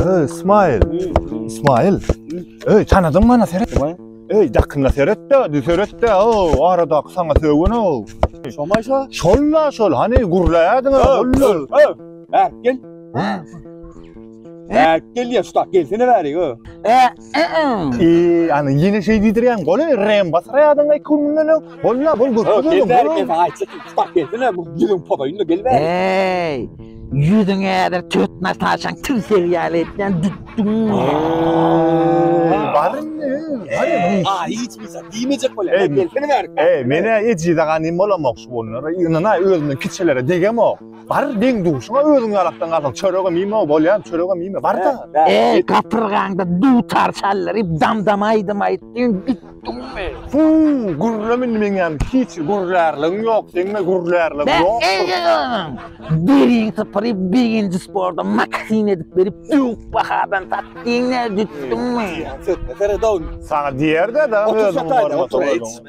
Öy, İsmail. İsmail. Öy, tanadın bana seret. Öy, dakınla seret de, dü seret de. O, arada sana sögün o. Şomay şo. Şol la şol, hani gurlayadın ha. Öy, öy, öy. Berk gel. Berk gel ya, şu tak gelsene bari. Öy. Eee, ana ýene şeý diýdirýäň. Goly rem bas raýadyň iki gün mundan öň. Bolýa, bol göz Öp, gözelim. geldi, geldi, ayçyk, bak gelsene, bu yüzün podayın da geldi. Eý, ýüzüň ädir töt Nataşaň tilsel ýaly etýän dütdüň. Baryn, baryn. Aa, hiç bir şey diyemeyecek böyle. Ey, Gelsene ver. Eý, menä ejiz aganym bolamok şu günler. Ynana özümden kiçilere degemok. Bar deň duşuna özüň ýalakdan galsaň çöregem iýme bolýan çöregem iýme bar da. Eý gapyrgaňda dutar çallary dam dam aýdym aýtdyň gitdiňmi. Fu gürlem indi meň ýan hiç gürlärligiň ýok seňme gürlärligiň ýok. Biriň sypyryp birinji sporda maksin edip berip ýok bahadan satdyň ne dütdüňmi. Sökme sere dogn. Saňa diýer de da özüň bolma.